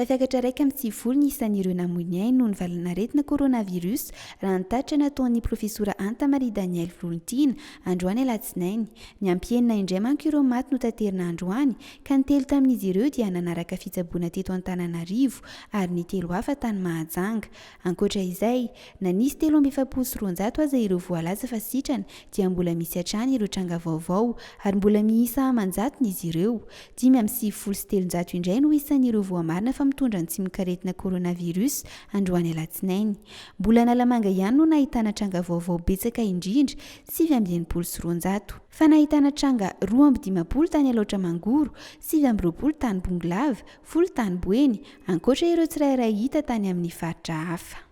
Tafiakatra iraika amby sivifolo ny isan'ireo namoy ny ainy noho ny valanaretina coronavirus raha ny tatitra nataon'ny profesora Anta Marie Danielle Volontiana androany alatsinainy. Niampy enina indray manko ireo maty notaterina androany ka ny telo tamin'izy ireo dia nanaraka fitsaboana teto Antananarivo ary ny telo hafa tany Mahajanga. Ankoatra izay, na nisy telo amby efapolo sy roanjato aza ireo voalaza fa sitrana dia mbola misy hatrany ireo tranga vaovao ary mbola miisa aman-jatony izy ireo. Dimy amby sivifolo sy telonjato indray no isan'ireo voamarina fa mitondra ny tsimokaretina coronavirus androany alatsinainy. Mbola Analamanga ihany no nahitana tranga vaovao betsaka indrindra, sivy amby enimpolo sy roanjato. Fa nahitana tranga roa amby dimampolo tany Alaotra Mangoro, sivy amby roapolo tany Bongolava, Folo tany Boeny, ankoatra ireo tsirairay hita tany amin'ny faritra hafa.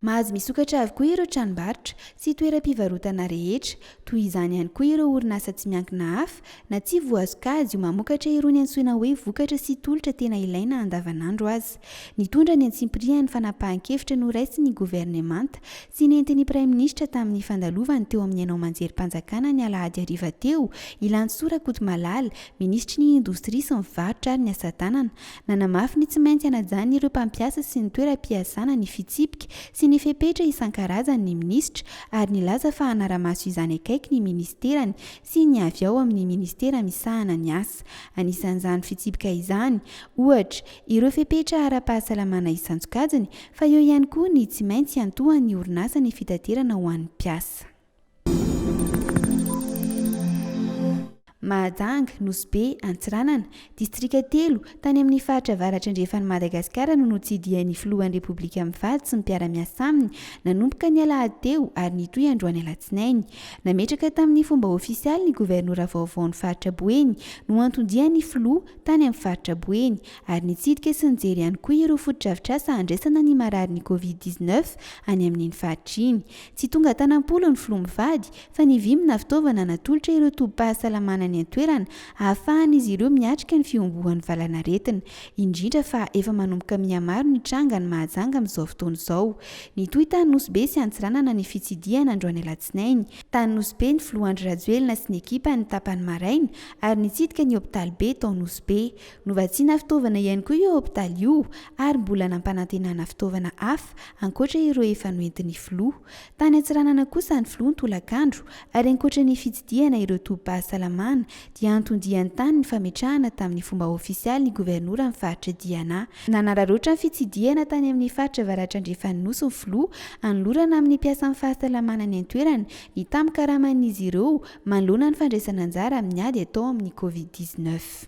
Mahazo misokatra avokoa ireo tranombarotra sy toeram-pivarotana rehetra. Toy izany ihany koa ireo orinasa tsy miankina hafa na tsy voazokazy ho mamokatra irony antsoina hoe vokatra sy tolotra tena ilaina andavanandro aza. Nitondra ny antsipirihan'ny fanapahan-kevitra noraisin'ny governemanta sy nentin'ny praiminisitra tamin'ny fandalovany teo amin'ny haino aman-jerim-panjakana ny alahady hariva teo i Lantsoa Rakotomalala, minisitry ny indostria sy ny varotra ary ny asatanana. Nanamafy ny tsy maintsy hanajan'ireo mpampiasa sy ny toeram-piasana ny fitsipika sy ny fepetra isan-karazany ny minisitra ary nilaza fa hanara-maso izany akaiky ny ministerany sy ny avy ao amin'ny ministera misahana ny asa. Anisan'izany fitsipika izany, ohatra, ireo fepetra ara-pahasalamana isan-tsokajiny fa eo ihany koa ny tsy maintsy hiantohan'ny orinasa ny fitaterana ho an'ny mpiasa. Mahajanga, Nosy Be, Antsiranana, distrika telo, tany amin'ny faritra avaratra andrefan'i Madagasikara no notsidihan'ny filohan'ny Repoblika mivady sy ny mpiara-miasa aminy nanomboka ny alahady teo ary nitohy androany alatsinainy. Nametraka tamin'ny fomba ofisialy ny governora vaovaon'ny faritra Boeny no anton-dian'ny filoha tany amin'ny faritra Boeny, ary nitsidika sy nijery ihany koa ireo fotodrafitrasa handraisana ny mararin'ny Covid dix neuf any amin'iny faritra iny. Tsy tonga tana am-polo ny filoha mivady, fa nivimbina fitaovana natolotra ireo tobim-pahasalamana any an-toerana hahafahan'izy ireo miatrika ny fihomboan'ny valanaretina, indrindra fa efa manomboka mihamaro ny tranga any Mahajanga amin'izao fotoana izao. Nitohy tany Nosy-Be sy Antsiranana ny fitsidihana androany alatsinainy, tany Nosy-Be ny filoha Andry Rajoelina sy ny ekipany tapany maraina ary nitsidika ny hopitaly be tao Nosy Be. Novatsiana fitaovana ihany koa io hopitaly io ary mbola nampanantenana fitaovana hafa ankoatra ireo efa noentin'ny filoha. Tany Antsiranana kosa ny filoha ny tolakandro ary ankoatra ny fitsidihana ireo tobim-pahasalamana dia anton-diany tany ny fametrahana tamin'ny fomba ofisialy ny governoran'ny faritra Diana. Nanararaotra ny fitsidihana tany amin'ny faritra avaratra andrefan'ny Nosy ny filoha hanolorana amin'ny mpiasan'ny fahasalamana any an-toerana ny tamin-karaman'izy ireo Manoloana ny fandraisana anjara amin'ny ady atao amin'ny Covid dix neuf.